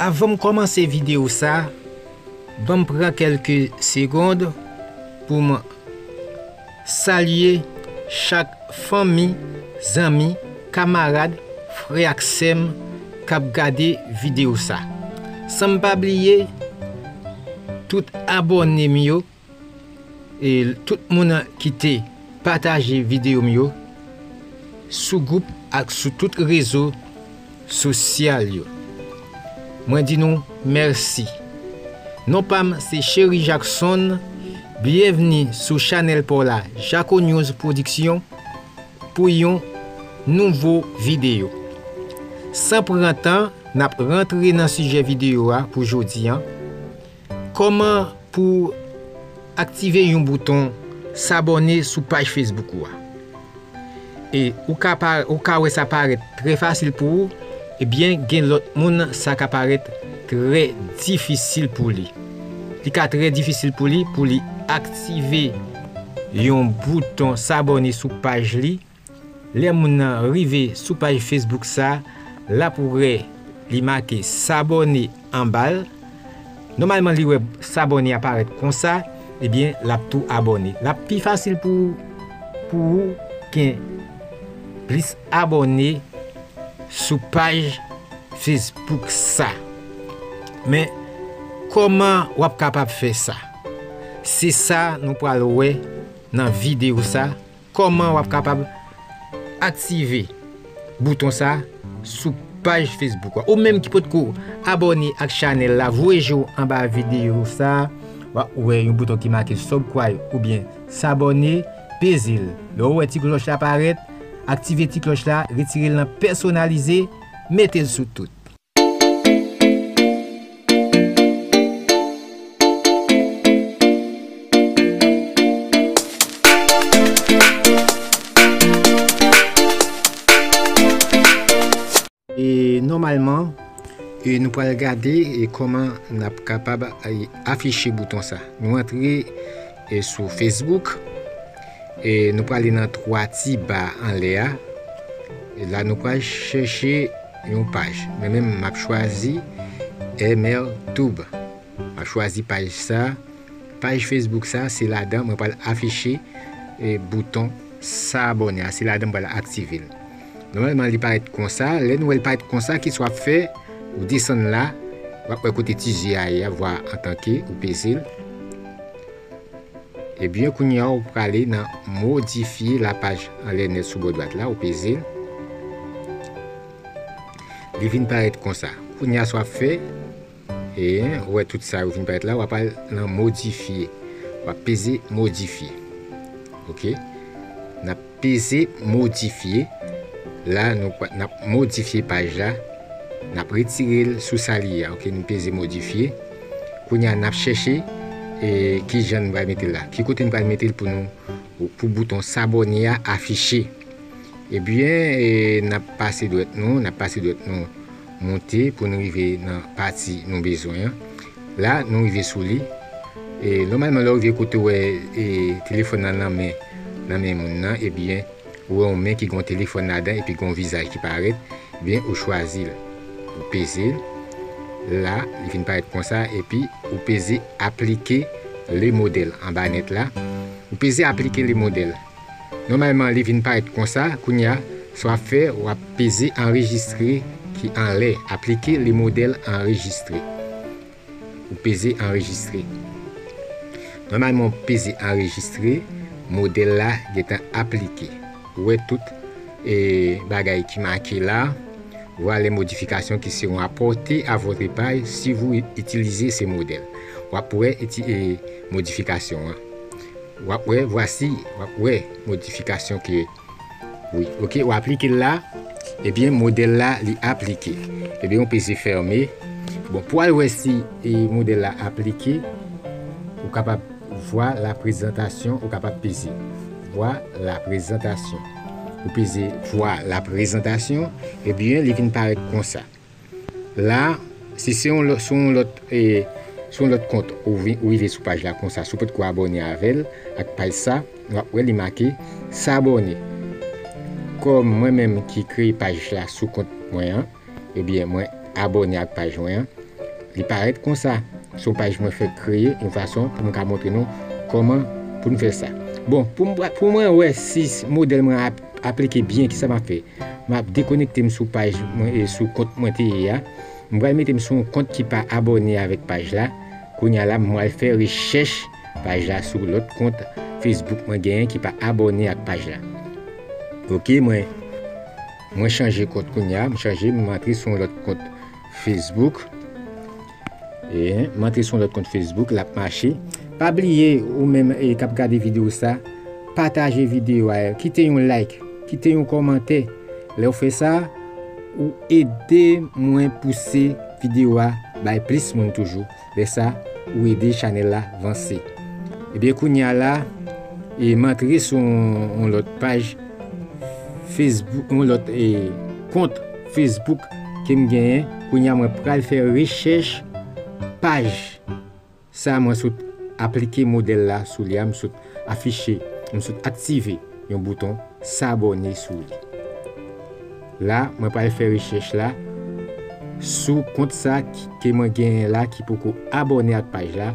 Avan m kòmanse videyo sa, ban m pran kèlke segond pou m salye chak fanmi, zanmi, kamarad, frè ak sè m k ap gade videyo sa. San m pa bliye tout abòne m yo. E tout moun kite pataje video m yo sou group ak sou tout rezo sosyal yo mwen di nou mèsi non pam se Chery Jackson byenvni sou chanèl paw la jako news production pou yon nouvo video san pran tan nap rantre nan sijè video a pou jodi an. Kòman pou w aktive yon bouton sabòne sou paj Facebook ou a? E ou ka pa ou ka wè sa parèt trè fasil pou ou ebyen gen lòt moun sa ka parèt trè difisil pou li. Li ka trè difisil pou li pou li aktive yon bouton sabòne sou paj li. Lè moun nan rive sou paj Facebook sa, lap wè li make sabone anbal, nòmalman li wè sabone a parèt konsa, ebyen lap tou abone. Lap pi fasil pou ou pou ou gen plis abone sou paj Facebook sa. Men kòman wap kapab fè sa? Se sa nou pral wè nan video sa. Kòman wap kapab aktive bouton sa sou paj Facebook ou menm ki potko abòne ak chanèl la voye je w anba videyo sa wa wè yon bouton ki make subcry oubyen sabòne peze l lè w wè ti klòch la parèt aktive ti klòch la retire l nan pèsonalize mete l sou tout. Normalman nou pral gade koman nap kapab afiche bouton sa Nou antre sou Facebook Nou prale nan 3 ti ba anlè a La nou pral chèche Yon paj. Mwen menm map chwazi ML tube. Map chwazi paj sa. Paj Facebook sa se ladan mwen pral afiche bouton sa abone a. Se ladan mwen pral aktive l. Nòmalman li parèt konsa. Lè nou wè li parèt konsa kisa wap fè? Ou desann la. Wap wè kote ti je a ye a, vwa antanke, ou peze l. Ebyen kounye a ou prale nan modifye la paj anlè nèt sou bò dwat la ou peze l li vin parèt konsa kounye a sa wap fè eyen ou wè tout sa yo vin parèt la wap al nan modifye wap peze modifye ok nap Peze modifye, la nou pral nap modifye paj la, nap retirel sou sa li ye a ok nou peze modifye, kounya nap chèche e kijan nou pral metel la ki kote nou pral metel pou nou pou bouton s'abonner a afiche ebyen nap pase dwèt nou nap pase dwèt nou moute pou nou rive nan pati nou bezwen an La nou rive sou li. E nòmalman lè ou rive kote ou wè e telefòn nan nan men nan men moun nan ebyen ou wè yon men ki gen yon telefòn ladan epi gen yon vizaj ki parèt ebyen ou chwazi l ou peze l la li vin parèt konsa epi ou peze aplike le modèl anba nèt la ou peze aplike le modèl. Nòmalman li vin parèt konsa kounye a sa wap fè wap peze anrejistre ki anlè aplike le modèl anrejistre ou peze anrejistre nòmalman ou peze anrejistre modèl la gentan aplike ou wè tout bagay ki make la vwa lè modifikasyon ki seron apòte a vòtre paj si vou itilize se modèl wap wè modifikasyon an. Wap wè vwasi wap wè modifikasyon ke wi ok wap klike la ebyen modèl la li aplike ebyen ou peze fème bon pou al wè si modèl la aplike ou kapab vwa la prezantasyon ou kapab peze vwa la prezantasyon ou peze vwa la prezantasyon ebyen li vin parèt konsa. La, si se yon sou yon lòt e sou yon lòt kont ou vin ou rive sou paj la konsa si w potko abòne avè l ak paj sa w ap wè li make s'abonner kòm mwen menm ki kreye paj la sou kont mwen an ebyen mwen abòne ak paj mwen an li parèt konsa son paj mwen fèk kreye yon fason pou m ka montre nou kòman pou n fè sa bon pou mwen wè si modèl mwen ap Aplike byen kisa map fè map dekonektem sou paj mwen e sou kont mwen te ye a m pral metem sou yon kont ki pa abòne avèk paj la kounya la m pral fè rechèch paj la sou lòt kont Facebook mwen genyen ki pa abòne ak paj la ok mwen mwen chanje kont kounya m chanje m antre sou yon lòt kont Facebook. M antre sou yon lòt kont Facebook, l ap mache. Pa bliye ou menm k ap gade videyo sa, pataje videyo a, kite yon like, kite yon kòmantè. Lè w fè sa, ou ede mwen pouse videyo a bay plis moun toujou. Lè sa, ou ede chanèl la vanse. Ebyen kounye a la, m antre sou yon lòt paj Facebook, yon lòt kont. Facebook kem genyen kounya mwen pral fè rechèch paj sa mwen sot aplike modèl la sou li a m sot afiche m sot aktive yon bouton sabòne sou li la mwen pral fè rechèch la sou kont sa ke mwen genyen la ki poko abòne ak paj la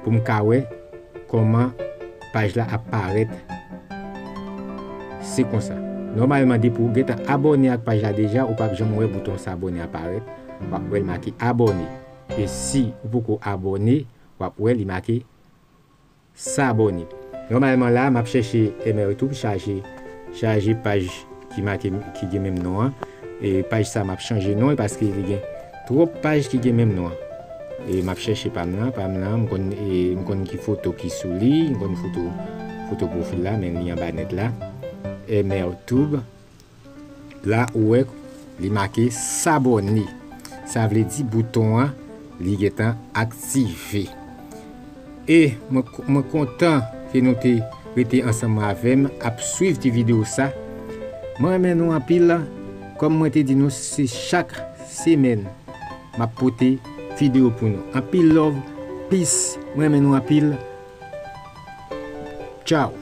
pou m ka wè kòman Paj la ap parèt se konsa. Nòmalman depi ou gentan abòne ak paj la deja ou pap janm wè bouton s'abonner a parèt, wap wèl make abòne e si ou poko abòne wap wè li make s'abonner. Nòmalman la map chèche mrtoub chaje chaje paj ki make ki gen menm non an e paj sa map chanje non li paske li gen Trop paj ki gen menm non an. E map chèche pam lan, pam lan m konn e m konn ki foto ki sou li, m konn foto foto profil la men li anba nèt la MRTube la ou wè li make s'abonner sa vle di bouton an li gentan aktive. E mwen kontan ke nou te rete ansanm avèm ap swiv ti video sa mwen renmen nou anpil kòm mwen te di nou se chak semèn map pote video pou nou anpil love peace mwen renmen nou anpil tchaww.